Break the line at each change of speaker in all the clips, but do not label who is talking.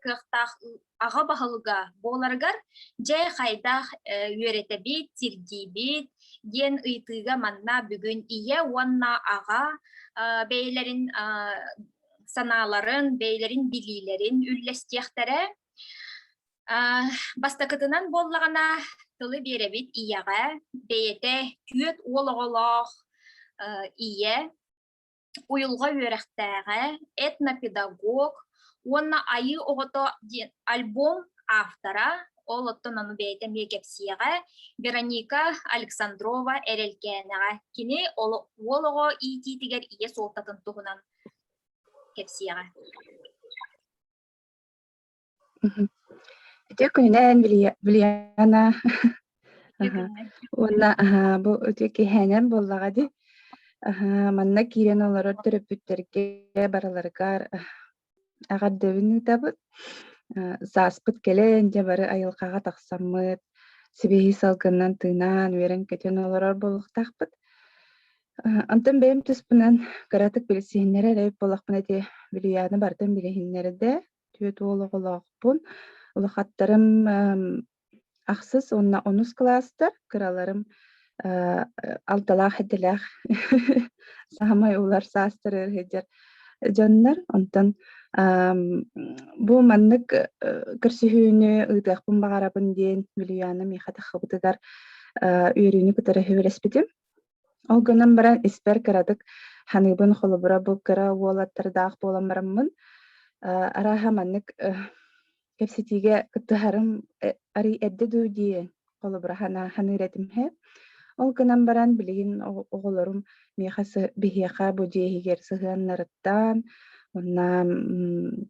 кыахтаах аҕа баһылыга буоларыгар дьэ хайдах үөрэтэбит сирдиибит диэн ыйтыыга манна бүгүн ийэ уонна аҕа бэйэлэрин санааларын бэйэлэрин билиилэрин үллэстиэхтэрэ бастакытынан буоллаҕына тылы биэрэбит ийэҕэ бэйэтэ түөрт уол оҕолоох ийэ уйулҕа үөрэхтээҕэ, этнопедагог уонна Айыы оҕото диэн альбом автора, ол оттон ону бэйэтэ эмиэ кэпсиэҕэ, Вероника Александрова Эрэлкээнэҕэ. Кини уол оҕо иитиитигэр ийэ суолтатын туһунан кэпсиэҕэ. Үтүө күнүнэн, Вильяна. Уонна бу үтүө киһээнэн буоллаҕа дии. Манна киирэн олорор төрөппүттэргэ барыларыгар эҕэрдэбин ыытабыт. Сааспыт кэлэн, дьэ бары айылҕаҕа тахсаммыт, сибиһи салгынынан тыынан, үөрэн-көтөн олорор буолуохтаахпыт. Онтон бэйэм туспунан кыратык билсиһиннэрэр эбит буоллахпына ити Вильяна бартан билиһиннэрдэ. Түөрт уол оҕолоохпун. Улахаттарым эм, ахсыс уонна онус кылаастар, кыраларым э, алталаах-этэлээх саамай улар саастары сыһыдьар дьоннор. Онтон эм, бу маннык э, көрсүһүүнү ыытыахпын баҕарабын диэн Юлиана Михатахабытыгар э, үөрүүнү кытары үбүлэспитим. Ол гынан баран испэр кыратык ханыыбын холобура бу кыра уолаттардаах буолан бараммын арааһа маннык кэпсэтиигэ кыттыһарым арый эрдэ дуу дии холобура ханыыр этим иһэ ол гынан баран билигин оҕолорум миэхэ биһиэхэ бу дьиэ иһигэр сыһыаннарыттан онно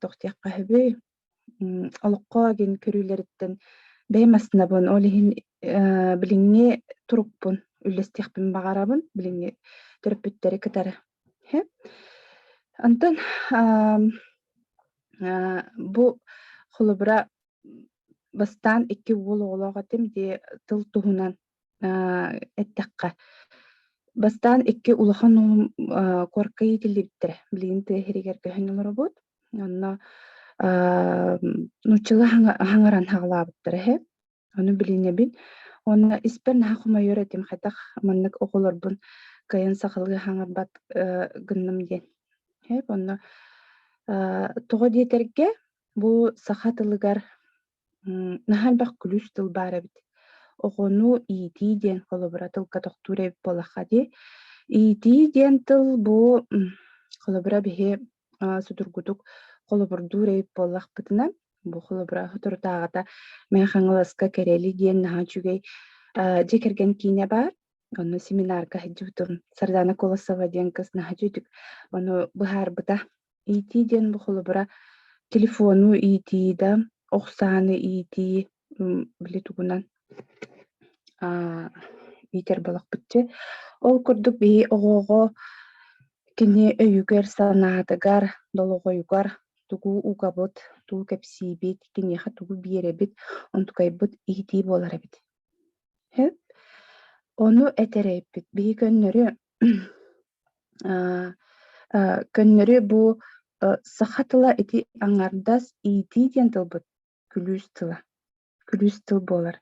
тохтуохха үһүбүй олоххо гин көрүүлэриттэн бэйэм массыынабын, ол иһин э, билиҥҥи турукпун үллэстиэхпин баҕарабын, билиҥҥи төрөппүттэри кытары. Онтон бу холобура бастаан икки уол оҕолоох этим дии тыл туһунан Э, эттэххэ, бастаан 2 улахан оҕом, э, куоракка иитиллибиттэрэ. Билигин тыа иһигэр көһөн олоробут. Онно, ам, нууччалыы хаҥа хаҥаран саҕалаабыттара үһү. Ону билинэбин. Уонна испэр наһаа хомойуор этим, хайдах маннык оҕолорбун кыайан сахалыы хаҥарбат, э, гынным диэн. Үһү. Онно, э, тоҕо диэтэргэ, бу саха тылыгар наһаа элбэх күлүүс тыл баар эбит. Оҕону иитии диэн холобура тылга тохтуур эбит буоллахха дии. Иитии диэн тыл бу холобура биһи судургутук холобурдуур эбит буоллахпытына, бу холобура соторутааҕыта Мэҥэ Хаҥаласка Кэрэли диэн наһаа үчүгэй дьиэ кэргэн киинэ баар. Онно семинарга сылдьыбытым. Сардана Колосова диэн кыз наһаа үчүгэй ону быһаарбыта. иитии диэн бу холобура телефону иитии да охсааны иитии били тугунан иитэр балахпытчы ол курдук биһи оҕоҕо кини өйүгэр санаатыгар долоҕойугар тугу угабыт тугу кэпсиибит киниэхэ тугу биэрэбит онтукайбыт иитии буолар эбит ону этэрэйбит биһи көннөрү Э, көннөрү бу, э, саха тыла ити аҥардас иитии диэн тылбыт күлүүс тыла, күлүүс тыл буолар.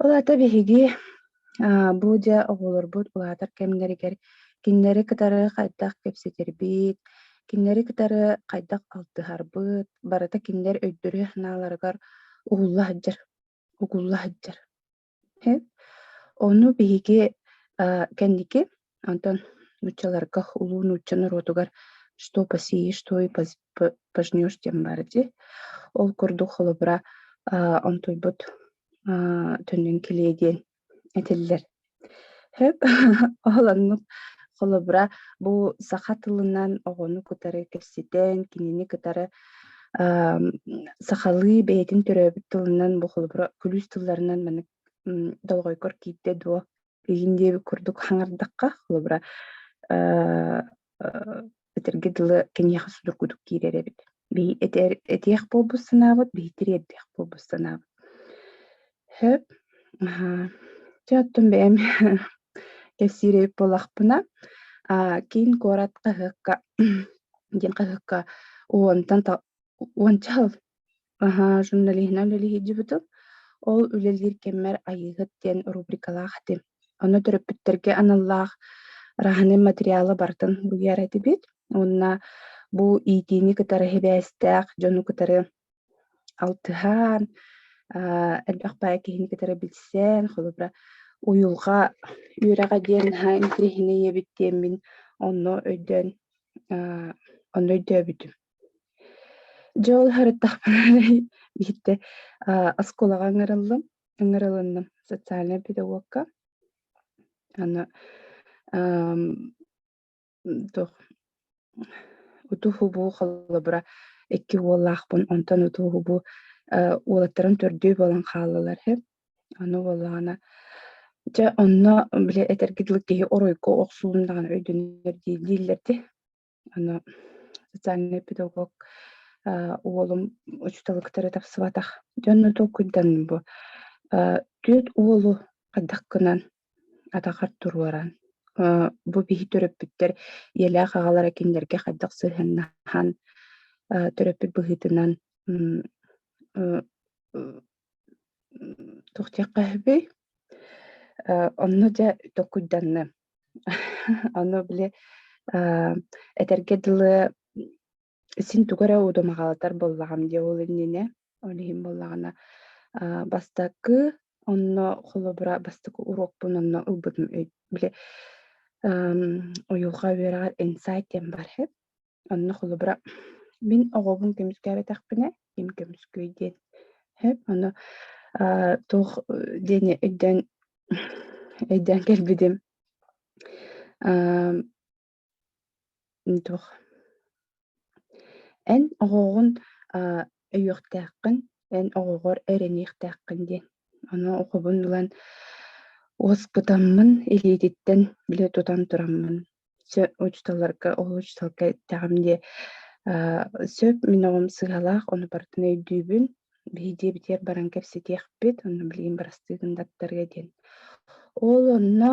Ол аата биһиги, э, бу дьэ оҕолорбут улаатар кэмнэригэр кинилэри кытары хайдах кэпсэтэрбит, кинилэри кытары хайдах алтыһарбыт, барыта кинилэр өйдөрө-санааларыгар угулла сылдьар, угулла сылдьар. Ону биһиги э, кэнники, онтон нууччаларга улуу нуучча норуотугар что посеешь, что и пожнешь диэн баар дии. Ол курдук холобура онтуйбут төннүн килиэ диэн этиллэр. Ол оннук холобура бу саха тылынан оҕону кытары кэпсэтэн, кинини кытары сахалыы бэйэтин төрөөбүт тылынан бу холобура күлүүс тылларынан маннык долгойгор киирдэ дуо киһин диэбит курдук хаңардахха холобура этэргэ дылы киниэхэ судургутук киирэр эбит этиэх буолбут санаабыт биһи тириэрдиэх буолбут санаабыт Сөп. Аһа. Чэ, оттон бэйэм кэпсиирэбит буолахпына, а, киин куорат хаһыакка диэн хаһыакка уонтан та уонча сыл аһа журналиһынан үлэлэһиэдьибитим. Ол үлэлиир кэммэр Айыыһыт диэн рубрикалаах этим. Ону төрөппүттэргэ аналлаах раһынай материалы барытын буруйар этибит. Уонна бу иитиини кытары сибээстээх дьону кытары алтыһан, а, элбэх баай киһини кытары билсэн, холобура, уйулҕа үөрэҕэ диэн наһаа интэриэһинэй ийэбит диэммин онно өйдөөн, а, онно өйдөөбүтүм. Дьэ ол харыттахпына биирдэ а, оскуолаҕа ыҥырыллым, ыҥырылынным социальнай педагогка. Аны, ам, туох уту-хубуу холобура икки уоллаахпын, онтон уту-хубу уолаттарын төрдүө буолан хааллылар үһү. Аны буоллаҕына Дьэ, онно били этэргэ дылы киһи оройго охсуун даҕаны өйдөнөр дии дииллэр ди. Аны социальный педагог уолум учуталы кытары тапсыбатах. Дьонно толкуйданным бу. Түөрт уолу хайдах гынан атахар туруоран, бу биһи төрөппүттэр ийэлээх аҕалара кинилэргэ хайдах сыһыаннаһан төрөппүт быһыытынан туох диэххэ үһүбүй онно дьэ токуйданным ону били этэргэ дылы син тугу эрэ удумаҕалатар буоллаҕым дии ол иннинэ. Ол иһин буоллаҕына, аа, бастакы, онно холобура бастакы уруокпун онно ылбытым. Өй били, ам, Уйулҕа үөрэҕэр инсайт диэн бар эһэ. Онно холобура мин оҕобун көмүскээбэтэхпинэ, ким көмүскүүй диэн эһэ. Ону, аа, туох диэни өйдөөн өйдөөн кэлбитим. Ам, Туох эн оҕоҕун, аа, өйүөхтээххин, эн оҕоҕор эрэниэхтээххин диэн. Ону оҕобун ылан уоскутаммын, илиититтэн билэ тутан тураммын, чэ учууталларга ол учууталга эттэҕим диэ, аа, сөп мин оҕом сыыһалаах, ону барытын өйдүүбүн, биһи дьиэбитигэр баран кэпсэтиэхпит, ону билигин бырастыы гыннаттарыа диэн. Ол онно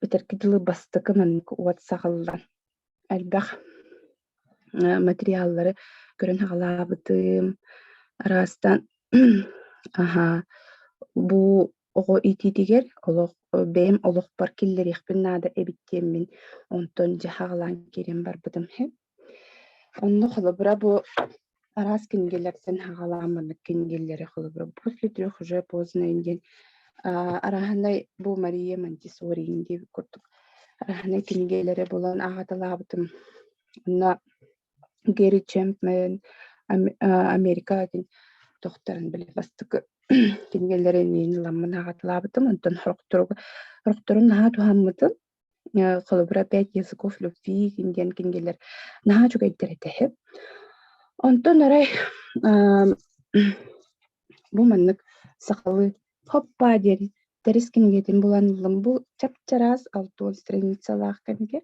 Битэрки дылы бастакынан уот саҕыллан элбэх материаллары көрөн саҕалаабытым. Араастан бу оҕо иитиитигэр олох бэйэм олохпор киллэриэхпин наада эбит диэммин онтон дьэ саҕалаан киирэн барбытым Онно холобура бу араас кинигэлэртэн саҕалаан маннык кинигэлэри холобура «После трех уже познанных дней» арааһынай бу Мария Монтессорини диэн курдук арааһынай кинигэлэри булан аҕаталаабытым. Онно Гэри Чэмпмэн «Америка» диэн тохторон били бастакы кинигэлэри иннин ламмын аҕаталаабытым. Онтон сорохтору сорохтору наһаа туһаммытым. холобура «Пять языков любви» диэн кинигэлэр наһаа үчүгэйдэр этэ үһү. Онтон арай бу маннык сахалыы «Хоппа» диэн тэрис кинигэтин булан ыллым. Бу чапчараас Антон Страницалаах кинигэ.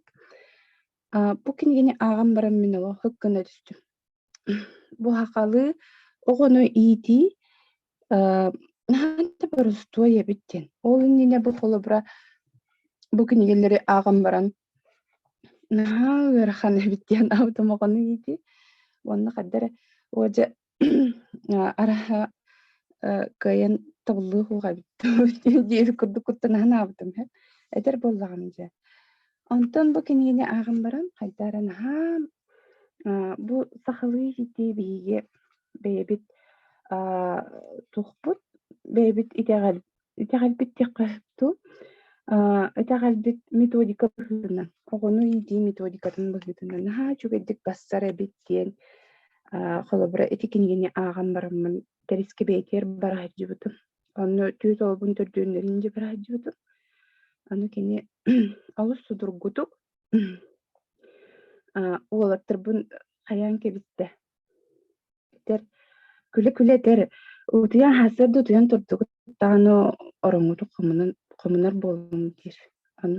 А, бу кинигини ааҕан баран мин олох һык гына түстүм. Бу хахалыы оҕону иитии, э, наһаа да борустуой эбит диэн. Ол иннинэ бу холобура бу кинигэлэри ааҕан баран наһаа ыарахан эбит диэн аутомоҕону иитии. Уонна хайда эрэ, уодьа Араһа кыайан табыллыах уоҕа эбит диэри курдук куттанаһан аабытым иһэ этэр буоллаҕым дьэ онтон бу кинигэни ааҕан баран хайда эрэ наһаа бу сахалыы иһитии биһиги бэйэбит туохпут бэйэбит итэҕэл Итэҕэлбит диэххэ туу. Итэҕэлбит методика быһыытынан, оҕону иитии методикатын быһыытынан наһаа үчүгэйдик бассар эбит диэн холобура ити кинигини ааҕан бараммын кэрискибээтигэр бара сылдьыбытым. Онно түөрт оҕобун төрдүөннэрин дьэ бара сылдьыбытым. Аны кини олус судургутук уолаттарбын хайаан кэбистэ. күлэ-күлэтэр, утуйа аһасар да утуйан турдугут даҕаны ороҥҥутук хомунан хомунар буоллум диир. Аны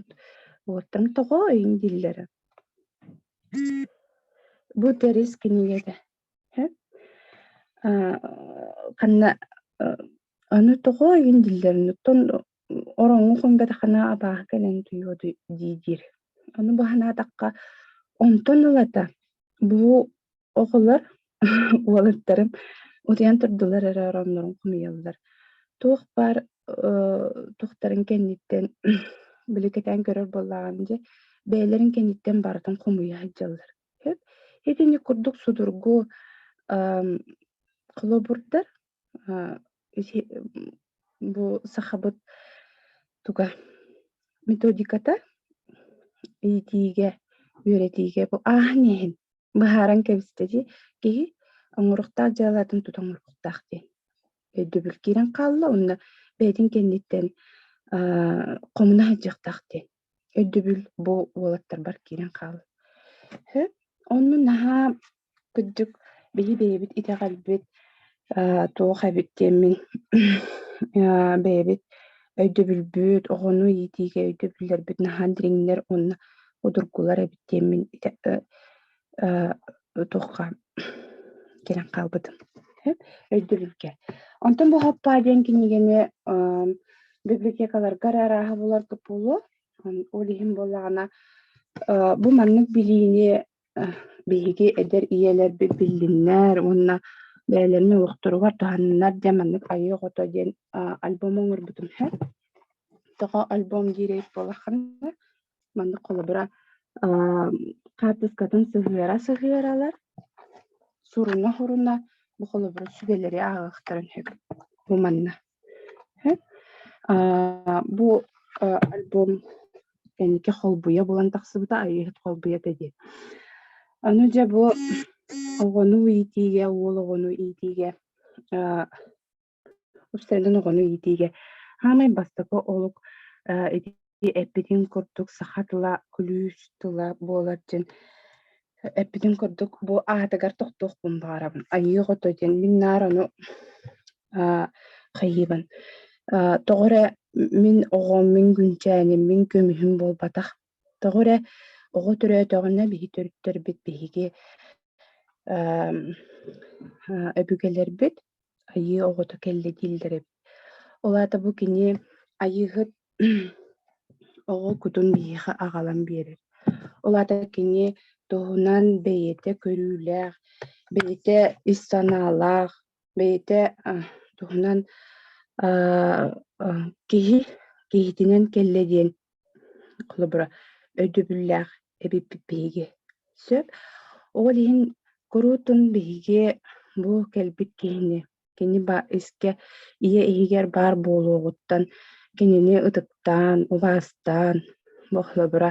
уоттан тоҕо эйин дииллэрэ. Бу тэрис кинигэтэ. ханна Аны тоҕо иһин дииллэриниттэн ороҥҥо хомбатахына абааһы кэлэн утуйуо дии диир. Аны бу санаатахха, онтон ылата бу оҕолор уолаттарым утуйан турдулар эрэ ороннорун хомуйаллар. Туох баар туохтарын кэнниттэн били кэтээн көрөр буоллаҕына дьэ, бэйэлэрин кэнниттэн барытын хомуйа сылдьаллар. Итинник курдук судургу холобурдар Э, эти бу сахабыт туга методиката иитиигэ, үөрэтиигэ бу ааһан иһин быһааран кэбистэ дии киһи оҥоруктаах дьыалатын тута оҥоруктаах диэн өйдөбүл киирэн хаалла уонна бэйэтин кэнниттэн хомуна сылдьыахтаах диэн Өйдөбүл бу уолаттарбар киирэн хаалар. Онно наһаа кырдьык били бэйэбит итэҕэлбит э, туох эбит диэн мин э, бэйэбит өйдөбүлбүт, оҕону иитиигэ өйдөбүллэрбит наһаа дириҥнэр уонна удургулар эбит диэн мин э, туохха кэлэн хаалбытым өйдөбүлгэ онтон бу хаппаа диэн кинигэни библиотекаларга эрэ арааһы булар буолуо ол иһин буоллаҕына бу маннык билиини биһиги эдэр ийэлэрбит биллиннэр уонна бэйэлэрин олохторугар туһаннынар диэн маннык айыы ото диэн альбом оҥорбутум тоҕо альбом диирэй буолаххына Маннык холобура хаартыскатын сыһыара-сыһыаралар, суруна-хоруна бу холобуру сүгэлэри ааҕыахтарын сөп. Бу манна. Бу альбом кэнники холбуйа булан тахсыбыта Айыыһыт холбуйата диэн. Аны дьэ бу оҕону иитиигэ, уол оҕону иитиигэ Австралияны оҕону иитиигэ саамай бастакы олук э, ити эппитин курдук саха тыла күлүүс тыла буолар диэн эппитин курдук бу аатыгар тохтуохпун баҕарабын айыы ото диэн мин наар ону а, хайыыбын а, тоҕо эрэ мин оҕом мин күнчээним мин көмүһүм буолбатах Тоҕо эрэ оҕо төрөөтөҕүнэ биһи төрүттэрбит биһиги эм, э, өбүгэлэрбит айыы оҕото кэллэ дииллэр эбит. Ол аата бу кини айыыһыт оҕо кутун биһиэхэ аҕалан биэрэр. Ол аата кини туһунан бэйэтэ көрүүлээх, бэйэтэ ис санаалаах, бэйэтэ туһунан киһи киһитинэн кэллэ диэн холобура өйдөбүллээх эбиппит биһиги сөп ол иһин куруутун биһиги бу кэлбит киһини кини искэ ийэ иһигэр баар буолуоҕуттан кинини ытыктаан убаастаан бу холобура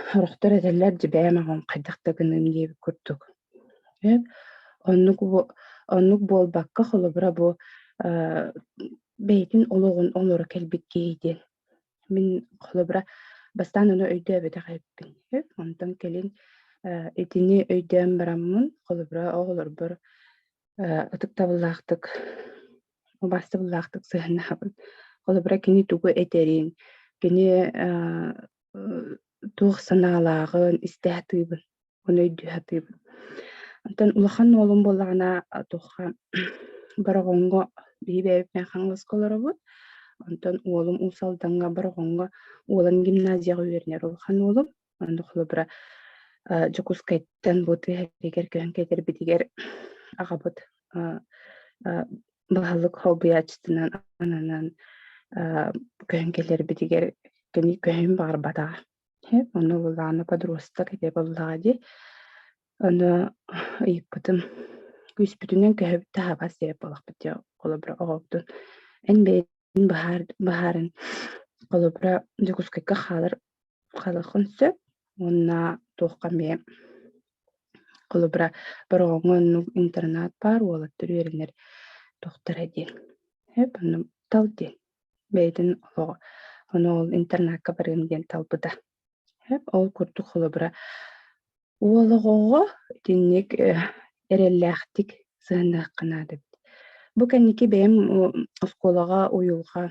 Сорохтор этэллэр дьибээн оҕоҥ хайдах да гыныам диэбит курдук. Э, оннук бу оннук буолбакка, холобура бу, э, бэйэтин олоҕун олоро кэлбит киһи диэн. Мин холобура бастаан ону өйдөөбөтөх эбиппин. Э, онтон кэлин, э, итини өйдөөн бараммын, холобура оҕолорбор, э, ытыктабыллаахтык убастыбыллаахтык сыһаннаһабын холобура кини тугу этэрин кини туох санаалааҕын истэ сатыыбын ону өйдүү сатыыбын онтон улахан уолум буоллаҕына туохха бороҕоҥҥо биһи бэйэбитинэн хаҥаласка олоробут онтон уолум уус алдаҥҥа бороҕоҥҥо уолан гимназияҕа үөрэнэр улахан уолум Онно холобура Дьокуускайтан бу тыаһыгар көһөн кэтэрбитигэр аҕабыт былаһалык холбуйааччытынан ананан көһөн кэлэрбитигэр кэми көһүн баҕарбатаҕа. Ону былаана подруста кэтэ буоллаҕа дии. Ону ыйыппытым күүспүтүнэн көһөбүт таһабас диэп буолахпыт дии холобура оҕобутун эн бэйэтин баһаарын холобура Дьокуускайга хаалар Халахын сөп уонна туохха эмиэ холобура бороҕоҥҥо оннук интернат баар уолаттар үөрэнэр тохторо диэн сөп онно тал диэн бэйэтин олоҕо ону ол интернакка барыам диэн талбыта сөп ол курдук холобура Уол оҕоҕо итинник э, эрэллээхтик сыһыанныахха наада эбит. Бу кэнники бэйэм оскуолаҕа уйулҕа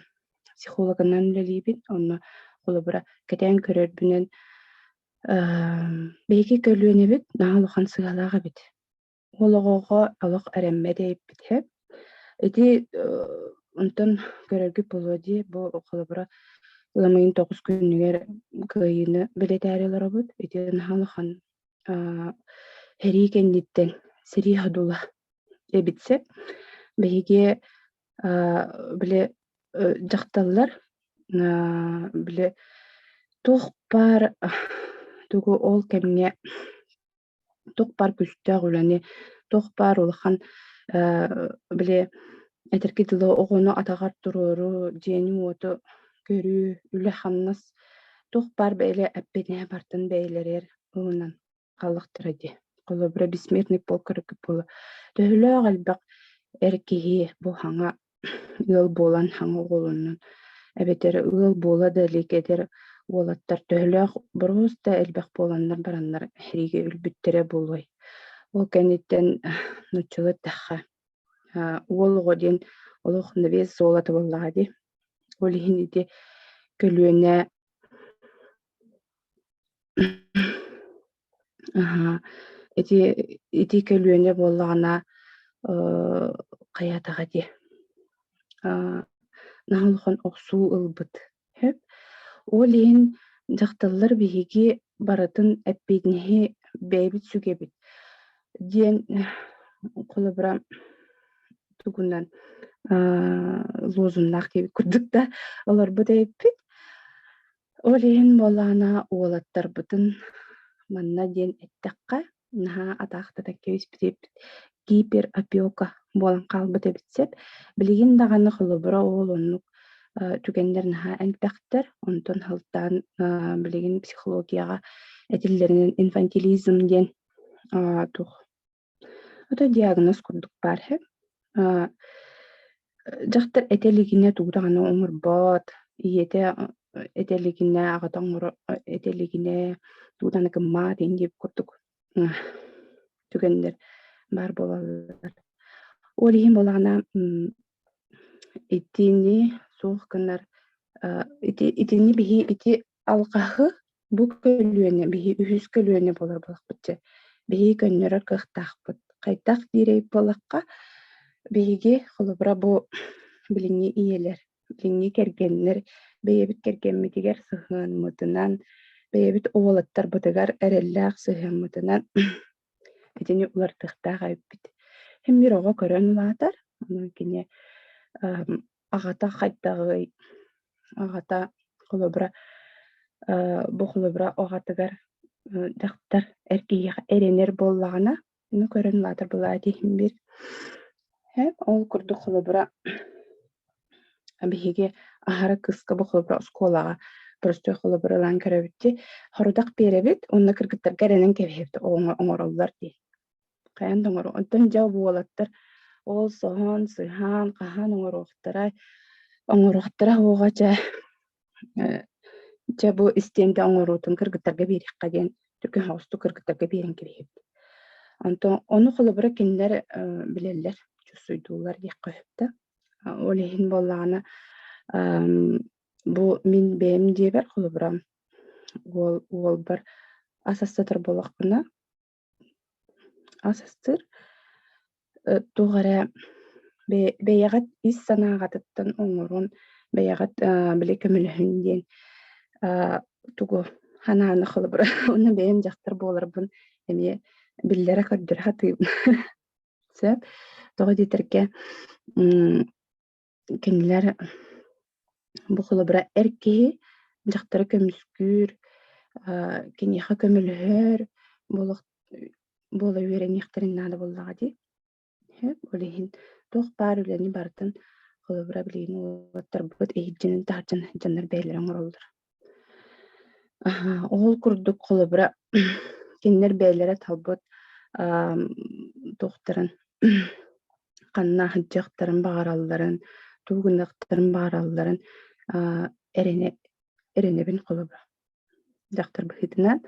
психологынан үлэлиибин. Онно холобура кэтээн көрөрбүнэн биһиги көлүөнэбит наһаа улахан сыалаах эбит. Ол оҕоҕо олох эрэммэт эйиппитэ. Ити онтон көрөргүт буолуо дии, бу холобура ыам ыйын тоҕус күнүгэр кыайыыны бэлэтээри олоробут. Ити наһаа улахан сэрии кэнниттэн сэрии ходула эбитсэ биһиги били дьахталлар били туох баар тугу ол кэмҥэ туох баар күүстээх үлэни, туох баар улахан били этэрки тылы оҕону атаҕар туруору, дьиэни-уоту көрүү, үлэ-хамнас туох баар бэйэлэ эппитинэ бартын бэйэлэригэр ылынан хааллахтара дии. Холобура, бессмертный полк буола. Төһөлөөх элбэх эр киһи бу саҥа ыал буолан саҥа оҕолонон эбэтэр ыал буола да илик эдэр уолаттар төһөлөөх боруос да элбэх буоланнар бараннар сэриигэ өлбүттэрэ буолуой ол кэнниттэн нуччалыы эттэххэ уол оҕо диэн олох навес суола табыллаҕа дии ол иһин ити көлүөнэ Аһа. Ити ити көлүөнэ буоллаҕына, э, хайаатаҕа дии. А, наһаа улахан охсуу ылбыт. Сөп. Ол иһин дьахталлар биһиги барытын эппиэтинэһи бэйэбит сүгэбит, диэн холобура тугунан а, лозуннаах диэбит курдук да олорбут эбиппит. Ол иһин буоллаҕына уолаттарбытын манна диэн эттэххэ, наһаа атаахтатан кэбиспит гиперопека буолан хаалбыт эбит сэп. Билигин даҕаны холобура ол оннук э, түгэннэр наһаа элбэхтэр. Онтон сылтаан э, билигин психологияҕа этиллэринэн инфантилизм диэн э, туох Ото диагноз курдук баар иһэ. Э, дьахтар этэ илигинэ тугу даҕаны оҥорбот, ийэтэ этэ илигинэ аҕата оҥоро этэ илигинэ тугу даҕаны гыммаат ин диэбит курдук түгэннэр баар буолаллар. Ол иһин буолаҕына итини суох гынар ити итини биһи ити алҕаһы Бу көлүөнэ биһи үһүс көлүөнэ болор буолахпыт дьэ. Биһи көннөрөр кыахтаахпыт. Хайдах диирэй буолахха, биһиги холобура бу билиҥҥи ийэлэр, билиҥҥи кэргэннэр бэйэбит кэргэммитигэр сыһыанмытынан, бэйэбит уолаттарбытыгар эрэллээх сыһыаммытынан Итини уларытыахтаах эбиппит. Имир оҕо көрөн улаатар, онон кини эм, аҕата хайдаҕый? Аҕата холобура э, бу холобура аҕатыгар э, дьахтар эр киһиэхэ эрэнэр буоллаҕына, аны көрөн улаатар былаат иһин бир. Э, ол курдук холобура Биһиги аһара кыска бу холобура оскуолаҕа простой холобура ылан көрөбүт хорудах биэрэбит уонна кыргыттарга эрэнэн кэбиһэбит оҥороллор дии. Хайан да оҥоро. Оттон дьэ уолаттар ол соһон, сыһаан, хаһан оҥоруохтара, оҥоруохтара оҕа дьэ Дьэ бу истиэнгэ оҥоруутун кыргыттарга биэриэххэ диэн түргэн оҕустук кыргыттарга биэрэн кэбиһэбит. Онтон ону холобура кинилэр билэллэр, чусуйдуулар диэххэ сөптө. Ол иһин буоллаҕына бу мин бэйэм дьиэбэр холобура уол уолбар ас астатар буолахпына Асыстыр туох эрэ бэйэҕит ис санааҕытыттан оҥорон бэйэҕит били көмөлөһүн диэн тугу санааны холобура уонна бэйэм дьахтар буоларбын эмиэ биллэрэ көрдөрө сатыыбын сөп тоҕо диэтэргэ кинилэр бу холобура эр киһи дьахтары көмүскүүр, киниэхэ көмөлөһөр буола үөрэниэхтэрин наада буоллаҕа дии. Ол иһин туох баар үлэни барытын холобура билигин уолаттарбыт иһирдьэнин таһырдьан сыдьаннар бэйэлэрэ оҥороллор Ол курдук холобура кинилэр бэйэлэрэ талбыт туохтарын ханна сылдьыахтарын баҕаралларын, тугу гыныахтарын баҕаралларын эрэнэ эрэнэбин холобура. Дьахтар быһыытынан,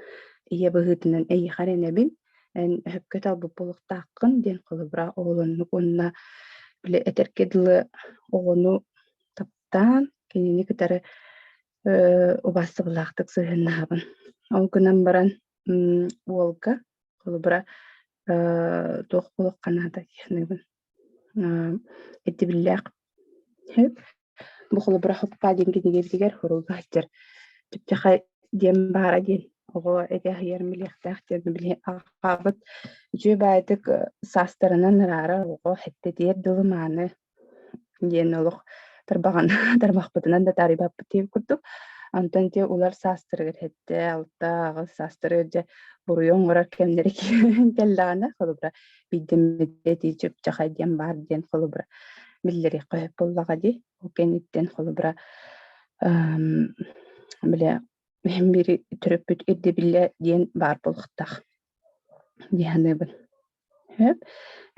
ийэ быһыытынан эйиэхэ эрэнэбин, эн өһөккө талбыт буолуохтааххын диэн холобура оҕолоннук уонна били этэргэ дылы оҕону сыстаан, кинини кытары убаастабыллаахтык сыһыаннаһабын. Ол гынан баран уолга холобура туох олох канаада диэхнэбин итибиллээх бу холобура хоппа диэн кинигэтигэр хоруга сытар түпчэхэ диэн баара диэн оҕо эгэ аһыйар билиэхтээх диэн били аҕабыт үчүгэй баайытык саастарынан ыраара оҕо хэттэтиэр дылы мааны диэн олох тарбаҕын тарбахпытынан да таарыйбаппыт диэн курдук. Онтон дьэ улар саастарыгар сэттэ, алта аҕыс саастары дьэ буруйу оҥорор кэмнэри киирэн кэллэҕинэ, холобура, биирдэммитэ итииччэ ыччахай диэн баар диэн холобура биллэриэххэ сөп буоллаҕа дии. Ол кэнниттэн холобура эм, бile эһэм биири төрөппүт ирдэбиллэ диэн баар буолуохтаах дии саныыбын. Сөп.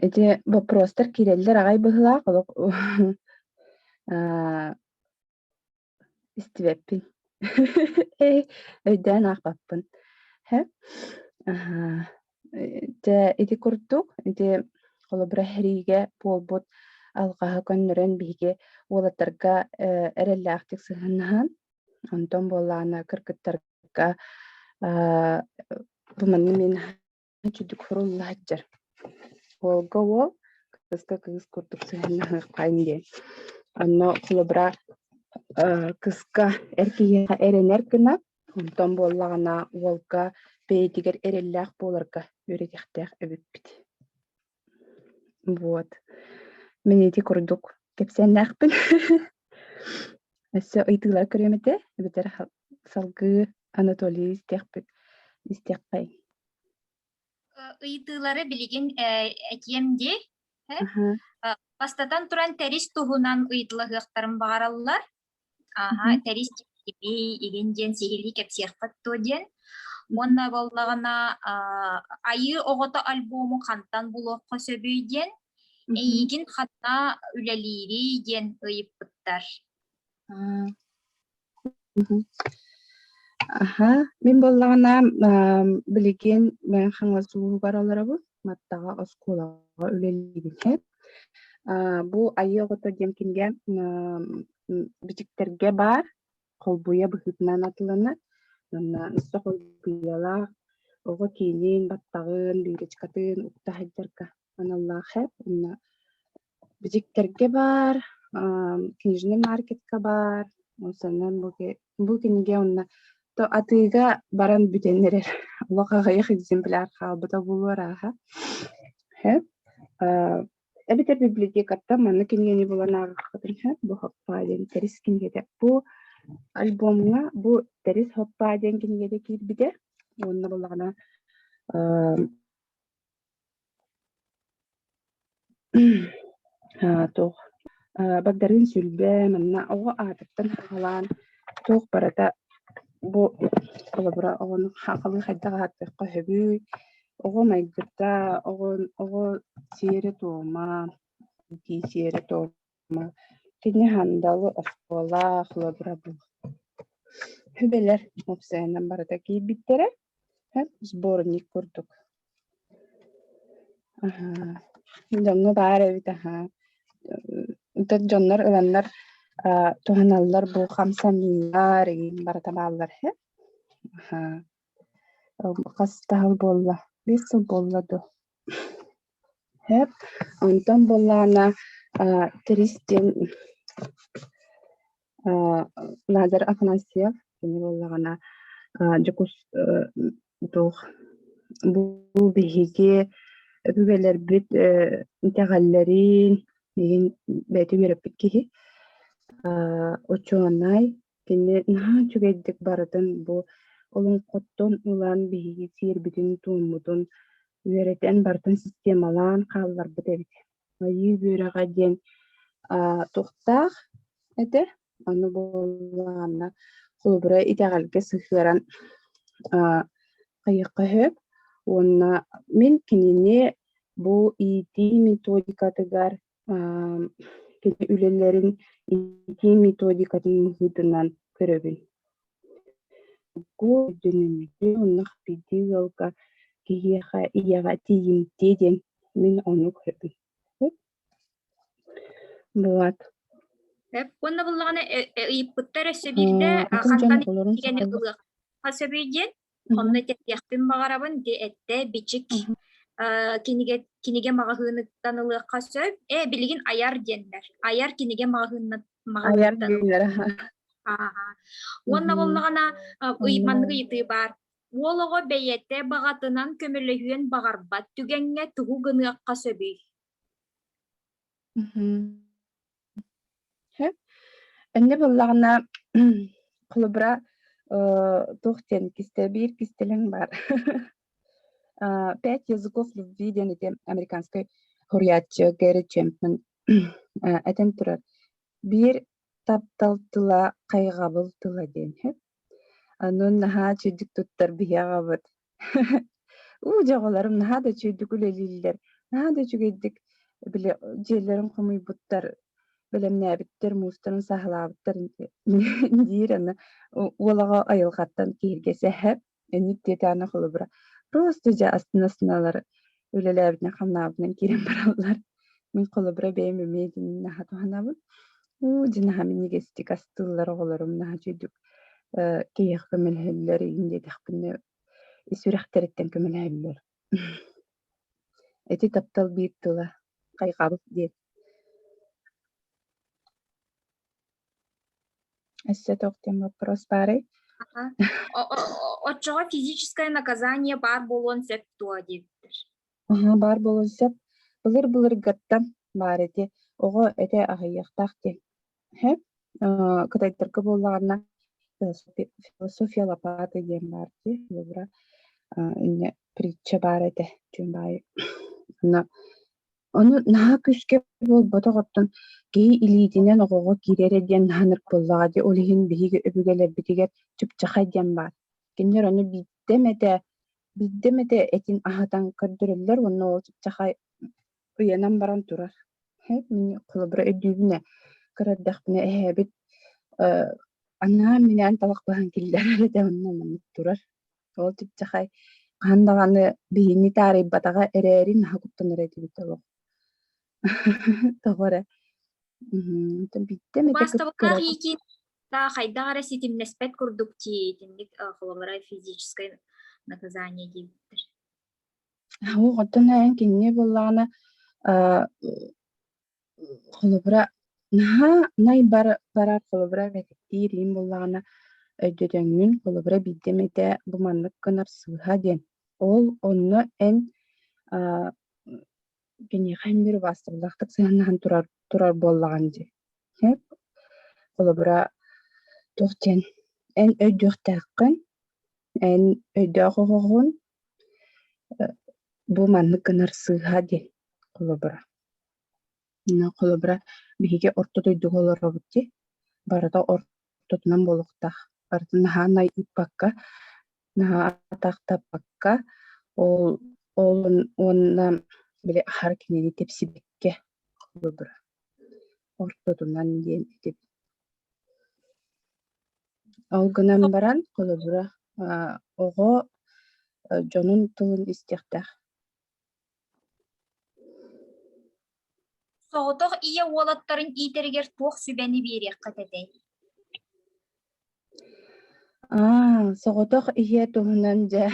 Эти боппуруостар киирэллэр аҕай быһыылаах олох аа истибэппин. Эй, өйдөөн аахпаппын. Сөп. Аһаа. Дьэ ити курдук, ити холобура иһэриигэ буолбут алҕаһы көннөрөн биһиги уолаттарга э, эрэллээхтик сыһыаннаһан, онтон буоллаҕына кыргыттарга аа, бу манна мин Үчүдүк сурулла сылдьар. Уолга уол, кыыска кыыс курдук сыһыаннаһыаххайын диэн. Онно холобура кыска эр киһиэхэ эрэнэр гына, онтон буоллаҕына уолга бэйэтигэр эрэллээх буоларга үөрэниэхтээх эбиппит. Вот. Мин ити курдук кэпсээннээхпин. Өссө ыйытыылар көрүөм этэ эбэтэр салгыы Анатолий истиэхпит истиэххэй. Ыйытыылары билигин этиэм дии. Бастатан туран тэрис туһунан ыйытылаһыахтарын баҕараллар. Ааһа, Мгм. тэрис киһи игин диэн сиһилии кэпсиэххит дуо диэн. Уонна буоллаҕына, аа, Айыы оҕото альбому хантан булуохха сөбүй диэн, Мгм. эйигин ханна үлэлиирий диэн ыйыппыттар. А. Мгм. Аһа, мин буоллаҕына, аам, билигин Мэҥэ Хаҥалас улууһугар олоробун, Маттаҕа оскуолаҕа үлэлиибин. Бу айыы оҕото диэн кинигэ бичиктэргэ баар, холбуйа быһыытынан атылынар. Манна носсох улгуйалаах оҕо киинин, баттаҕын, лиричкатын укта сылдьарга аналлаах эп. Онно бичиктэргэ баар, книжный маркетка баар. Ол санаан бу кинигэ онно то атыыга баран бүтэн эрэр олох аҕыйах экземпляр хаалбыта буолуо арааһа эбэтэр библиотекаттан манна кинигэни булан ааҕыккытын сөп бу хоппаа диэн тэрис кинигэтэ бу альбомҥа бу тэрис хоппаа диэн кинигэтэ киирбитэ уонна буоллаҕына Аа, туох аа, багдарыын Сүлбэ манна оҕо аатыттан хаалаан туох барыта бу холобура оҕону хаалыы хайдах ааттыахха сөбүй? Оҕо майгыта, оҕо оҕо сиэрэ-туома, дии сиэрэ-туома Кини Хандалы оскуолаах холобура буолла. Үбэлэр уопсайынан барыта киирбиттэрэ. Һэм сборник курдук. Аһаа, дьоҥҥо баар эбит аһаа. Ытык дьоннор ыланнар аа, туһаналлар бу хамсаныылар, игин барыта бааллар һэ. Аһаа. Хас таһыл буолла? Биэс сыл буолла дуо? Онтон буоллаҕына Трис диэн Лазарь Афанасьев кини буоллаҕына бу биһиги өбүгэлэрбит итэҕэллэрин бэйэтин үөрэппит киһи учуонай Кини наһаа үчүгэйдик барытын бу олоҥхоттон ылан биһиги сиэрбитин-туоммутун үөрэтэн барытын системалаан хаалларбыт эбит. Айыы үөрэҕэ диэн аа, туохтаах этэ? Аны буоллаҕына холобура итэҕэлгэ сыһыаран аа, хайыахха сөп. Уонна мин кинини бу иитии методикатыгар кини үлэлэрин итии методикатын быһыытынан көрөбүн. Бу дьоннордии оннук бирдии ыалга киһиэхэ ийэҕэ тиийимтиэ диэн мин ону көрөбүн. Булат. Уонна буллаҕына ыйыппыттар өссө биирдэ хантан ылыах сөбүй диэн Онно этиэхпин баҕарабын ди эттэ бичик Мгм. э, кинигэ кинигэ маҕаһыыныттан ылыахха сөп. Ээ билигин айар диэннэр. Айар кинигэ маҕаһыыннат Айар маҕаһыыныттан диэннэр аха. ааһа. Уонна Мгм. буоллаҕына э, ый маннык Мгм. ыйытыы баар. Уол оҕо бэйэтэ баҕатынан көмөлөһүөн баҕарбат түгэҥҥэ тугу гыныахха сөбүй? Мгм. Сөп. Иннэ буоллаҕына, холобура, э, туох диэн кистэй биир кистэлэҥ баар. А, "Пять языков любви" диэн ити американскай суруйааччы Гэри Чемпман э, этэн турар, "Биир таптал тыла, хайҕабыл тыла" диэн. Аны наһаа чэйдик туттар биһи аҕабыт. «У, дьоҕуларым наһаа да үчүгэйдик үлэлииллэр, наһаа да үчүгэйдик, били, дьиэлэрин хомуйбуттар, бэлэмнээбиттэр, муустарын саһылаабыттар», диир аны уол аҕа айылҕаттан киһиргэс эһэ, инник диэтэҕинэ холобура, просто дьэ астына-астына ылар үлэлээбитинэн хамнаабытынан киирэн бараллар мин холобура бэйэм эмиэ итинин наһаа туһанабын уу дьин аһа минигистик астыыллар оҕолорум наһаа үчүгдүк киһиэхэ көмөлөһөллөр иһин диэтэхпинэ ис сүрэхтэриттэн көмөлөһөллөр ити таптал биир тыла хайҕабыт диэн Өссө туох диэн боппуруос баарый? Оччоҕо физическое наказание баар буолуон сөп дуо диэбиттэр. Аһа баар буолуон сөп. Былыр-былыргаттан баар ити. Оҕо этэ аһыйыахтаах диэн. Һэ кытайтарга буоллаҕына философия лопаты диэн баар дии. Былырыра иннэ притча баар этэ. Дьон баайы. Онно Ону наһаа күүскэ буолбатах, оттон киһи илиитинэн оҕоҕо киирэрэ диэн наһанар буоллаҕа дии. Ол иһин биһиги өбүгэлэрбитигэр чыпчахай диэн баар. Кинилэр ону биирдэ эмэтэ, биирдэ эмэтэ этин аһатан көрдөрөллөр уонна ол чыпчахай уйанан баран турар. Һэ, мин холобура өйдүүбүнэ, көр эрдэхпинэ эһээбит, э, анаан-минээн талах быһан киллэрэр этэ онно маннык турар. Ол чыпчахай хаһан даҕаны биһиги таарыйбатаҕа эрээри наһаа куттанар этибит олох. Тоҕо эрэ Маастабылаах иитии хайдах эрэ ситимнэспэт курдук дии итинник холобура физическое наказание диэбиттэр. Оо, оттон эн кинини буллаҕына Холобура, наһаа най бары барар холобура мэтэктиир иһин буоллаҕына өйдөтөҥҥүн, холобура биирдэм этэ бу маннык гынар сыыһа диэн. Ол онно эн, аа, киниэхэ эмиэр убаастабыллаахтык сыһыаннаһан турар турар буоллаҕыҥ дии. Эп холобура, туох диэн, эн өйдүөхтээххин, эн өйдөөх оҕоҕун Бу маннык гынар сыыһа диэн холобура. Холобура, биһиги орто дойдуга олоробут дии. Барыта ортотунан буолуохтаах. Барытын наһаа найдыппакка, наһаа атаахтаппакка, ол ол уонна били аһар кинини тэпсибиккэ холобура. Ортотунан диэн этибит. Ол гынан баран, холобура, оҕо дьонун тылын истиэхтээх. Соҕотох ийэ уолаттарын иитэригэр туох сүбэни биэриэххэ тэтэй? Аа, соҕотох ийэ туһунан дьэ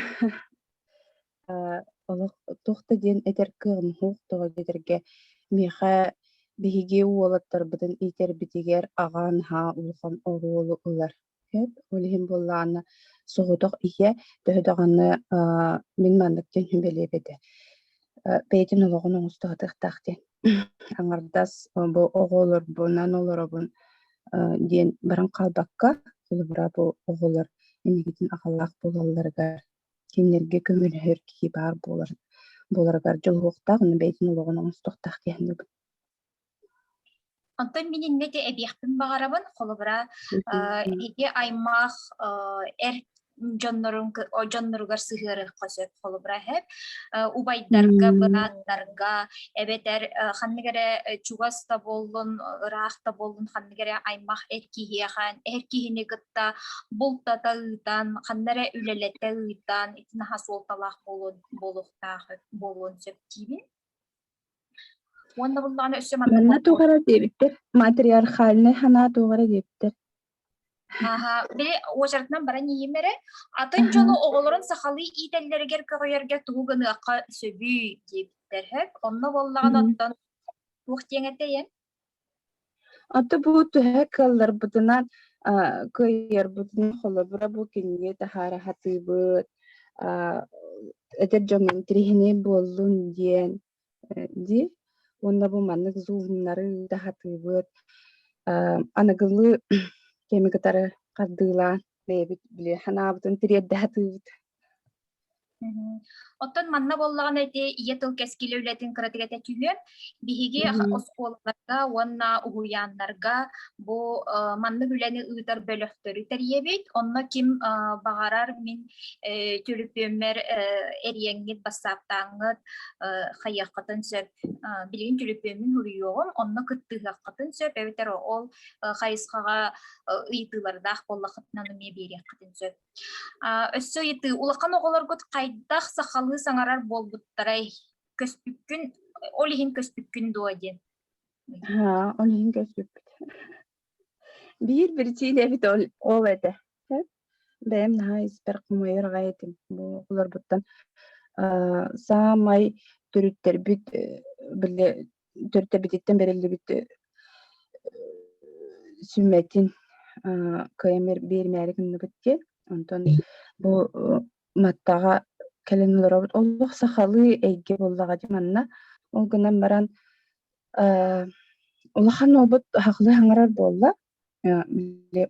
Э, олох туох да диэн этэр кыаҕым суох, тоҕо диэтэргэ миэхэ биһиги уолаттарбытын иитэрбитигэр аҕа наһаа улахан оруолу ылар. Сөп, ол иһин буоллаҕына соҕотох ийэ, төһө даҕаны аа, мин маннык диэн сүбэлиэм этэ. Э, бэйэтин олоҕун оҥостоотуохтаах диэн. Аҥардас э, бу оҕолорбунан олоробун, э, диэн баран хаалбакка, холобура бу оҕолор инникитин аҕалаах буолалларыгар кинилэргэ көмөлөһөр киһи баар буолар буоларыгар дьулуһуохтаах аны бэйэтин олоҕун оҥостуохтаах диэн саныыбын Онтон мин инники эбиэхпин баҕарабын холобура ити аймах эр дьоннорун дьонноругар сыһыарыахха сөп холобура эһэп убайдарга бырааттарга эбэтэр ханнык эрэ чугас да буоллун ыраах да буоллун ханнык эрэ аймах эр киһиэхэ эр киһини кытта бултата ыытан, ханна эрэ үлэлэтэ ыытан, итин аһа суолталаах буолуон буолуохтаах буолуон сөп диибин. Уонна буллаҕына өссө манна Манна тугара диэбиттэр, матриархальный ханаа тугара диэбиттэр. Аха, били уочаратынан баран иһим эрэ, атын дьону оҕолорун сахалыы иитэллэригэр көҕүйэргэ тугу гыныахха сөбүй диэбиттэр. Онно буоллаҕына оттон туох диэҥ этэйэн? Оттон бу төһө кыалларбытынан, а, кыайарбытынан холобура бу кинигэ таһаараһатыыбыт, а, эдэр дьонун тириһинэй буоллун диэн э, дии. Уонна бу маннык зумнары таһатыыбыт. А, аныгылыы кэми кытары хардыылаан бэйэбит били санаабытын тириэрдэ сатыыбыт. Оттон манна буоллаҕына ити ийэ тыл кэскилэ үлэтин кыратыгата түһүөн, биһиги оскуолаларга уонна уһуйааннарга бу маннык үлэни ыытар бөлөхтөрү тэрийэбит. Онно ким баҕарар мин түлүпүөммэр эриэҥҥит, бассааптааҥҥыт хайыаххытын сөп. Билигин түлүпүөммүн суруйуоҕум, онно кыттыһыаххытын сөп эбэтэр ол хайысхаҕа ыйытыылардаах буоллаххытына эмиэ биэриэххитин сөп. Өссө ыйытыы, улахан оҕолоргут хайдах сахалыы саҥарар буолбуттарай? Көспүккүн, ол иһин көспүккүн дуо диэн. Аа, ол иһин көспүппүт. Биир биричиинэ эбит ол, ол этэ. Бэйэм наһаа испэр хомойорго этим. Бу олорбуттан саамай төрүттэрбит биллэ төрөтөбүтүттэн бэриллибит сүммэтин кыйамер биэримээри гынныбыт диэн онтон бу маттаҕа кэлин олоробут олох сахалыы эйгэ буоллаҕа дим манна ол гынан баран улахан уолбут хахлы хаңарар буолла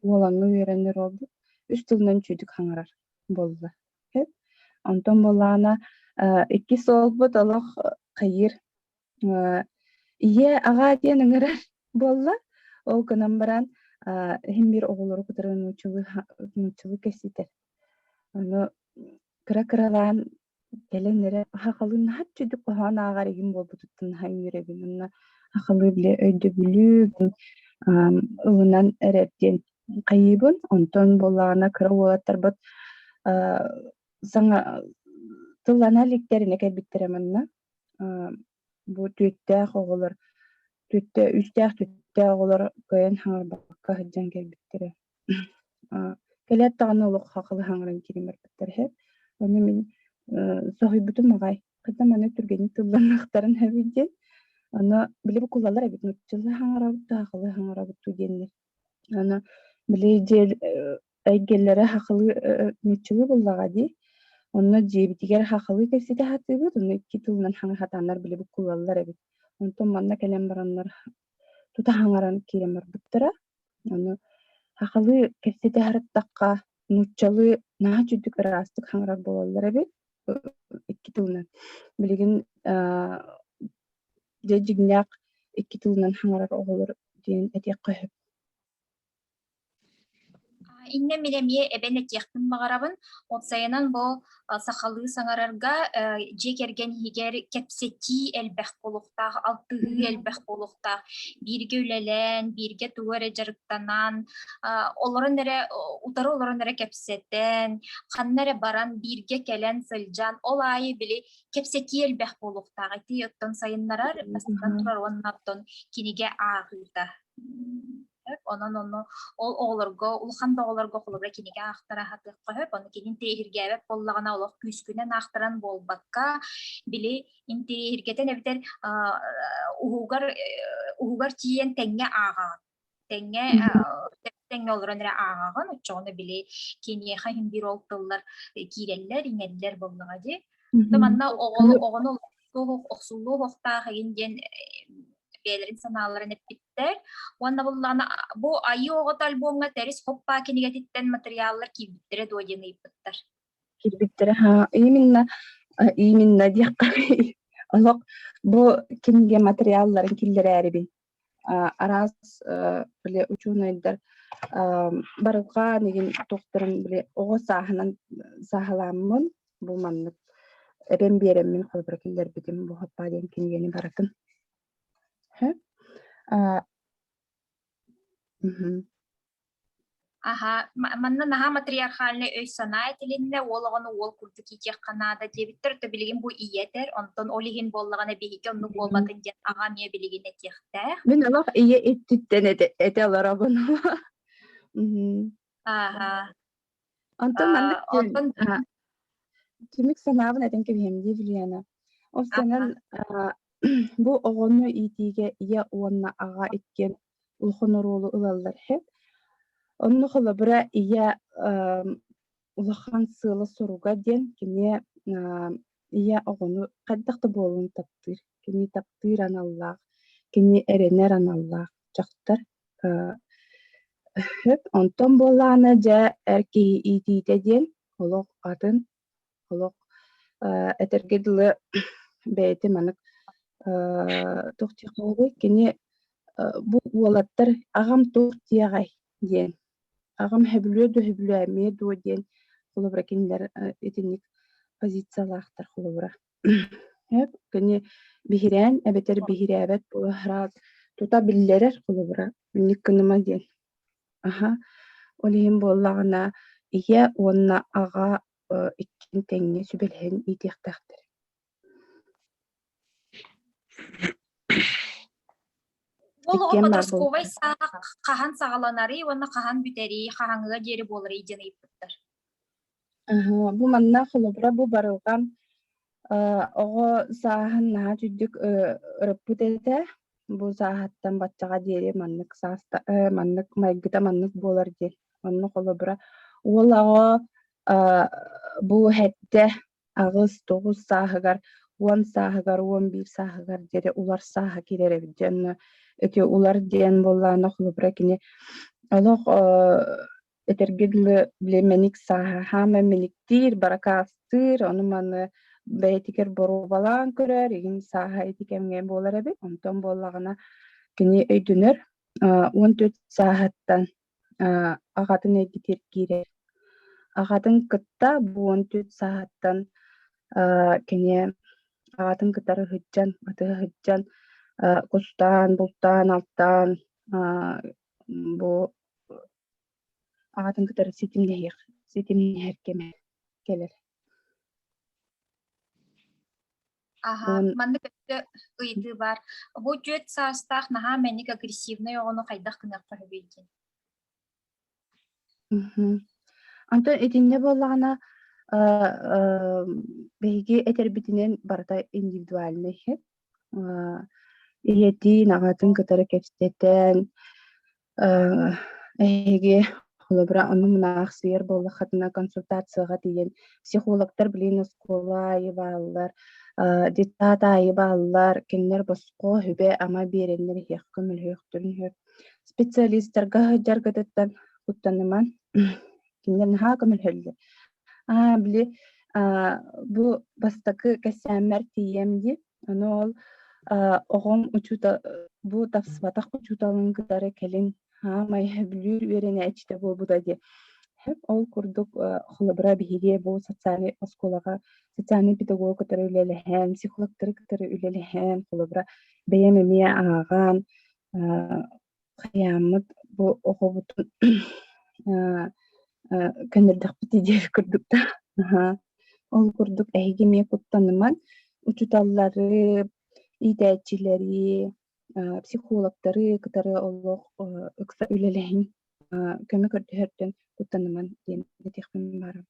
уолаҥы үөрэнэр уолбут үс тылынан чүүдүк хаңарар буолла онтон буоллаана иккис уолбут олох кыйыр Ийэ аҕаа диэн ыҥырар буолла. Ол гынан баран иһин биир оҕолору кытары нууччалыы нууччалыы кэситэр. Ону кыра-кыралаан кэлэн эрэ хахалыын наһаа чудук хоһоон ааҕар игин буолбутуттан наһаа үҥүрэбин уонна хахалыы билэ өйдөбүлүбүн ылынан эрэр диэн хайыыбын. Онтон буоллаҕына кыра уолаттарбыт саҥа тыллана иликтэринэ кэлбиттэрэ манна Бу түттээх оҕолор түттэ үстээх түттээх оҕолор кыайан хаҥарбакка сылдьан кэлбиттэрэ. Кэлээт даҕаны олох хахалы хаҥыран киирэн барбыттар үһү. Ону мин соһуйбутум аҕай. Хата маны түргэнник тылланнахтарын эбит диэн. Ону били кулалар эбит нууччалыы хаҥарабыт, сахалыы хаҥарабыт дуу диэннэр Аны били диэн эйгэлэрэ хахылыы ньыччылыы буоллаҕа дии. Онно дьиэбитигэр хахылыы кэпсэтэ сатыыбыт, ону икки тылынан хаҥатаннар били буккуллаллар эбит. Онтон манна кэлэн бараннар тута хаҥаран киирэн барбыттара. Ону хахылыы кэпсэтэ сырыттахха нууччалыы наһаа үчүгдүк ыраастык хаҥарар буолаллар эбит икки тылынан. Билигин Дьэ дьиҥнээх икки тылынан хаҥарар оҕолор диэн этиэххэ сөп Иннэ мин эмиэ эбэн этиэхпин баҕарабын. Уопсайынан бу сахалыы саҥарарга дьиэ кэргэн иһигэр кэпсэтии элбэх буолуохтаах, алтыһыы элбэх буолуохтаах. Бииргэ үлэлээн, бииргэ тугу эрэ дьарыктанан, олорон эрэ утары олорон эрэ кэпсэтэн, ханна эрэ баран бииргэ кэлэн сылдьан, ол аайы били кэпсэтии элбэх буолуохтаах ити оттон сайыннарар бастатан турар уонна оттон кинигэ ааҕыыта онон ону ол оҕолорго улахан да оҕолорго холобура кинигэ аахтара аһатыахха сөп ону кинин тириһиргээбэт буоллаҕына олох күүскүнэн аахтаран буолбакка били интириһиргэтэн эбэтэр уһугар уһугар тиийэн тэҥҥэ ааҕаҕын Тэҥҥэ, э, Мгм. тэҥҥэ олорон эрэ ааҕаҕын, оччоҕуна били киниэхэ иһин биир ол тыллар киирэллэр, иҥэллэр буоллаҕа дии. То Мгм. манна оҕону оҕону охсуллуо уһуохтаах игин диэн бэйэлэрин санааларын эппиттэр. Уонна буллаҕына бу Айыы оҕото альбомҥа Тэрис Хоппаа кинигэтиттэн матырыйааллар киирбиттэрэ дуо диэн ыйыппыттар. Киирбиттэрэ haa, именно, э, именно диэххэ олох бу кинигэ матырыйаалларын киллэрээрибин. араас били учуонайдар барылгаан игин тухтарын били оҕо сааһынан саһаламмын бу маннык эбэм биэреммин холобура киллэрбитим бу хоппаа диэн кинигени баратын Аһа, манна наһаа матриархальнай өй-санаа этилиннэ, уол оҕону уол курдук иитиэххэ наада диэбиттэр, то билигин бу ийэ этэр, онтон ол иһин буоллаҕына биһиги оннук буолбатын диэн аҕам ийэ билигин этиэхтээх. Мин олох ийэ иччиттэн этэ, этэ олоробун. Аха. Онтон маннык А, диэн онтон а, түмүк санаабын этэн кэбиһиэм дии, Юлиана. Ол санан, Ага. а, бу оҕону иитиигэ ийэ уонна аҕа иккиэн улахан оруолу ылаллар үһү. Онно холобура ийэ ам, улахан сыала-соруга диэн кини а, Ийэ оҕону хайдах да буолан таптыыр. Кини таптыыр аналлаах, кини эрэнэр аналлаах дьахтар Өп онтон буоллаҕына дьэ эр киһи иитиитэ диэн олох атын, олох э, этэргэ дылы бэйэтэ маннык э, туох диэххэ кини э, бу уолаттар аҕам туох диэҕэй диэн аҕам «Сөбүлүө дуо, сөбүлүө эмиэ дуо» диэн холобура кинилэр итинник позициялаахтар холобура. Кини биһирээн эбэтэр биһирээбэт буолаһыраат тута биллэрэр холобура инник гыныма диэн. Аха, ол иһин буоллаҕына ийэ уонна аҕа иккин тэҥҥэ сүбэлэһэн иитиэхтээхтэр Ол подростковай саах хаһан саҕаланарый уонна хаһан бүтэрий, хаһаҥыга диэри буоларый диэн ыйыппыттар. Бу манна холобура бу барылган оҕо сааһын наһаа түрдүк ырыппыт этэ. Бу сааһыттан баччаҕа диэри маннык сааста маннык майгыта маннык буолар диэн. Онно холобура уол оҕо бу хэттэ аҕыс, тоҕус сааһыгар, уон сааһыгар, уон биир сааһыгар диэри улар сааһа киирэр эбит диэн ити улар диэн буоллаҕына холобура кини олох этэргэ дылы били мэник сааһа хаама мэниктиир баракаастыыр ону маны бэйэтигэр боруобалаан көрөр игин сааһа ити кэмҥэ буолар эбит онтон буоллаҕына кини өйдөнөр он төрт сааһыттан Аҕатын эйгэтигэр киирэр. Аҕатын кытта бу уон түөрт сааһыттан кини аҕатын кытары сылдьан, батыһа сылдьан кустаан, бултаан, алтаан бу аҕатын кытары ситимнэһиэх, ситимнэһэр кэмэ кэлэр. Аха, Уон маннык өттө ыйытыы баар. Бу түөрт саастаах наһаа мэник агрессивнай оҕону хайдах гыныахха сөбүй диэн? Мгм. Онтон итиннэ буоллаҕына, э, э, биһиги этэрбитинэн барыта индивидуальнай эһэт. Э, ийэтин, аҕатын кытары кэпсэтэн, Э, эһиги холобура ону мунаахсыйар буоллаххытына консультацияҕа тиийэн психологтар билин оскуола аайы бааллар, э, детсад аайы бааллар, кинилэр босхо сүбэ-ама биэрэннэр иһиэх, көмөлөһүөхтэрин сөп. Специалистарга сылдьаргытыттан куттаныман кинилэр наһаа көмөлөһөллөр. Аа, били, а, бу бастакы кэсээммэр тиийэм дии Аны ол оҕом учуутал бу тапсыбатах учууталын кытары кэлин саамай бүлүү үөрэнээччитэ буолбута диye ол курдук холобура биһиги бу социальнай оскуолаҕа социальнай педагог кытары үлэлэһэн психологтары кытары үлэлэһэн холобура бэйэм эмиэ ааҕан хайааммыт бу оҕобутун көнөрдөхпүтэ диэри курдуктаах ол курдук эһиги эмиэ куттанымаҥ учууталлары иитээччилэри психологтары кытары олох ыкса үлэлэһиҥ көмө көрдөһөртөн куттанымаҥ диэн этиэхпин баҕарабын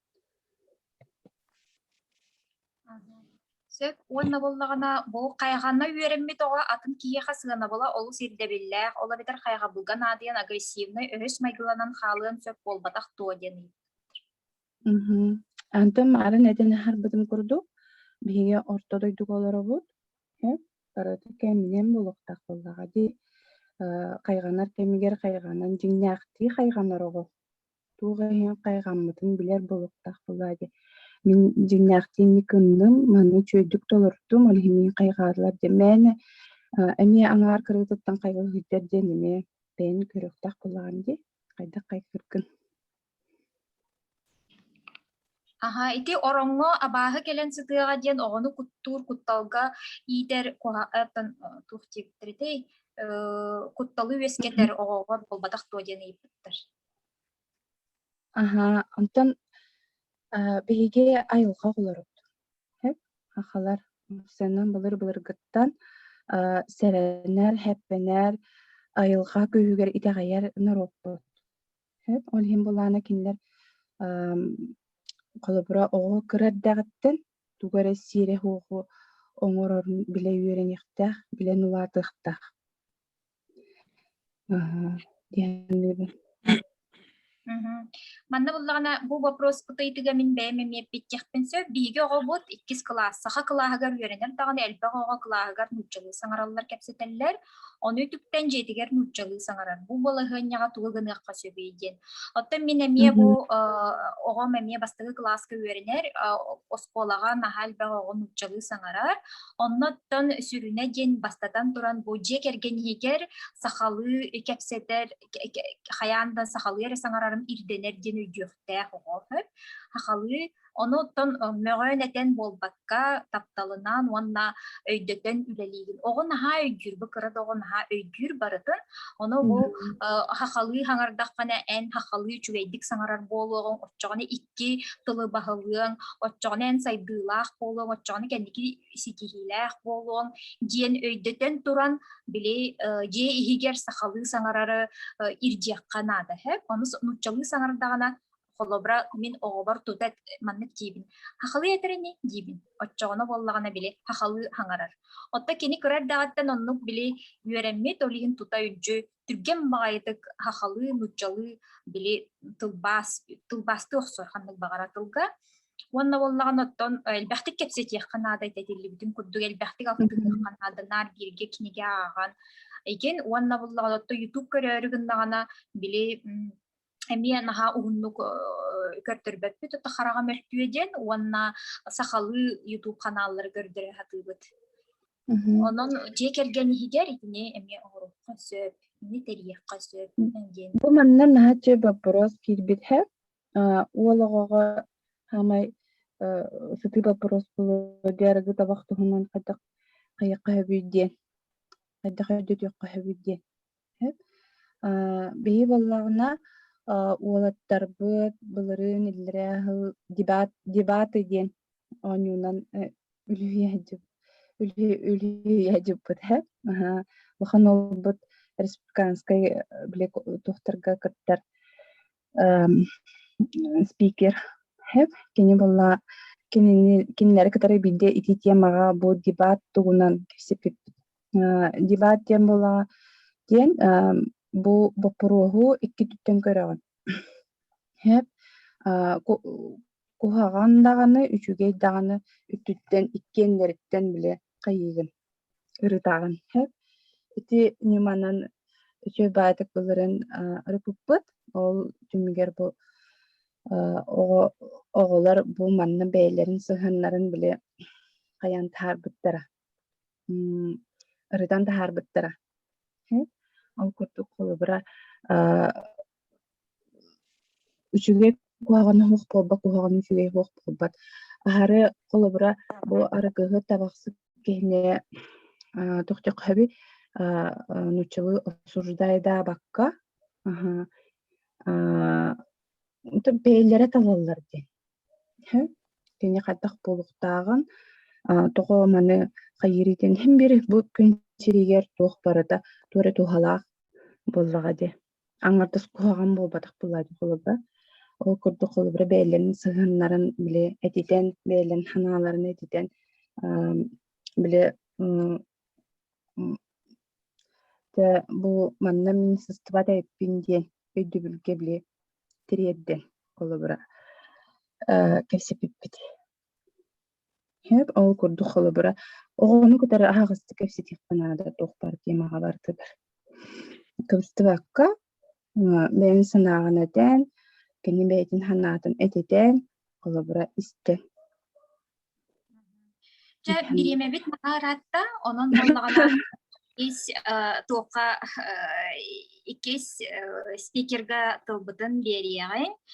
Сөп уонна буоллаҕына, бу хайҕанна үөрэммит оҕо атын киһиэхэ сыанабыла олус ирдэбиллээх, ол эбэтэр хайҕабылга наадыйан агрессивнай, өрүс майгыланан хаалыан сөп буолбатах дуо диэн ыйытта. Антон марын этин аһарбытым курдук, биһиги орто дойдуга олоробут, барыта кэминэн булуохтаах буоллаҕа дии, хайҕанар кэмигэр хайҕанан дьиҥнээхтии хайҕанар оҕо туох иһин хайҕаммытын билэр буолуохтаах буолари мин дьиҥнээхтииҥҥэ гынным маны үчүгэйдик толордум ол иһин мин хайҕаарлар дьэ мээнэ эмиэ аҥаар кырыытыттан хайҕа сылдьар диэн эмиэ бэйэн көрүөхтээх буоллаҕым дии хайдах хайҕыыргын аһа ити ороҥҥо абааһы кэлэн сытыаҕа диэн оҕону куттуур кутталга иитэр туох диэбиттэритэй кутталы үөскэтэр оҕоҕор буолбатах дуо диэн ыйыппыттар Аһаа, онтон, э, биһиги айылҕа оҕолорбут, һэт, сахалар сэнэн былыр-былыргыттан, э, сэрэнэр, һэппэнэр, айылҕа күүһүгэр итэҕэйэр норуоппут. Һэт, ол иһин былаана кинилэр, эм, холобура, оҕо кыра эрдэҕиттэн тугу эрэ сиэрэ-суоху оҥорорун билэ үөрэниэхтээх, билэн улаатыахтаах. Мм. Манна буллаҕына бу вопрос кытыйдыга мин бэйэм эмиэ биттэхпин сөп. Биһиги оҕобут иккис кылаас, саха кылааһыгар үөрэнэр даҕаны элбэх оҕо кылааһыгар нууччалыы саҥараллар кэпсэтэллэр. Ону үтүктэн дьиэтигэр нууччалыы саҥарар. Бу балаһыанньаҕа тугу гыныахха сөбүй диэн. Оттон мин эмиэ бу оҕом эмиэ бастакы кылааска үөрэнэр, оскуолаҕа наһаа элбэх оҕо нууччалыы саҥарар. Оннуттан сүрүнэ диэн бастатан туран бу дьиэ кэргэн иһигэр сахалыы кэпсэтэр хайаан да сахалыы эрэ саҥарарым ирдэнэр диэн өйдүөхтээх оҕо сөп. Сахалыы онуттан мөҕөөн этэн буолбакка тапталынан уонна өйдөтөн үлэлиигин оҕо наһаа өйдүүр бу кыра да оҕо наһаа өйдүүр барытын ону бу сахалыы саҥардаххына эн сахалыы үчүгэйдик саҥарар буолуоҕуҥ оччоҕуна икки икки тылы баһылыаҥ, оччоҕуна эн сайдыылаах буолуоҥ, оччоҕуна кэнники ситиһиилээх буолуоҥ диэн өйдөтөн туран, били дьиэ иһигэр сахалыы саҥарары ирдиэххэ наада сөп. Ону нууччалыы саҥардаҕына холобура мин оҕобор тута маннык диибин хахалыы этэрини диибин оччоҕуна буоллаҕына били хахалыы хаҥарар оттон кини кыра эрдэҕиттэн оннук били үөрэммит ол иһин тута үдьү түргэн баҕайытык хахалыы, нуччалыы били тылбаас, тылбаастыы охсор ханнык баҕара тылга. Уонна боллаҕын оттон элбэхтик кэпсэтиэххэ наада этитиллибитин курдук элбэхтик алтыһыахха наада наар бииргэ кинигэ ааҕан. Икин уонна боллаҕын отто YouTube көрөөрү гыннаҕына били Эмиэ наһаа уһуннук көрдөрбөппүт это хараҕа мөлтүө диэн уонна сахалыы YouTube ханааллары көрдөрө сатыыбыт. Онон дьиэ кэргэн иһигэр итини эмиэ оҥоруохха сөп, ини тэрийиэххэ сөп диэн. Бу манна наһаа чөл боппуруос киирбит һэ. Уол оҕоҕо саамай сытыы боппуруос буолуо диарыгы табах туһунан хайдах хайыахха сөбүй диэн хайдах өйдөтүөххэ сөбүй диэн. Биһи буоллаҕына, уолаттарбыт былырыын иллэрээ сыл дебат дебаты диэн оонньуунан үлүһүйэ сылдьыбыт ээ. Улахан уолбут республиканскай били туохтарга кыттар спикер кини буолла кинини кинилэри кытары биирдэ итии тиэмаҕа бу дебат тугунан кэпсэппиппит дебат диэн буолла диэн бу боппуруоһу икки түттэн көрөҕүн хэп куһаҕан даҕаны үчүгэй даҕаны үтүттэн иккиэннэриттэн бile хайыыгын ырытаҕын хэп ити ньыманан үтүө баатык былырын ырыппыппыт ол түмүгэр бу оҕо оҕолор бу манна бэйэлэрин сыһыаннарын били хайан таһаарбыттара ырытан таһаарбыттара ол курдук холобура Үчүгэй куһаҕан оһох буолбат, куһаҕан үчүгэй оһох буолбат. Аһары, холобура, бу арыгыһы табахсыт киһини аа тохтохоһоби аа нууччалыы осуждаайдаабакка аһаа аа бэйэлэрэ талаллар диэн. Һэ кини хайдах буолуохтааҕын аа тоҕо маны хайыырый диэн иһин биир бу күн сириигэр туох барыта туора туһалаах буоллаҕа дии. аҥардас куһаҕан буолбатах бывает холобура ол курдук холобура бэйэлэрин сыһыаннарын били этитэн бэйэлэрин санааларын этитэн били дьэ бу манна министерство эппин диэн өйдөбүлгэ били тириэрдэн холобура кэпсэппиппит Сөп, ол курдук холобура, оҕону кытары аһаҕастык кэпсэтиэххэ наада, туохпар тиэмэҕэ барытыгар. Кыбыстыбакка, бэйэҥ санааҕын этэн, кини бэйэтин санаатын этитэн, холобура, истэ. Дьэ, бириэмэбит наһаа ыраатта, онон буоллаҕына иккис туохха иккис спикерга тылбытын биэриэҕиҥ.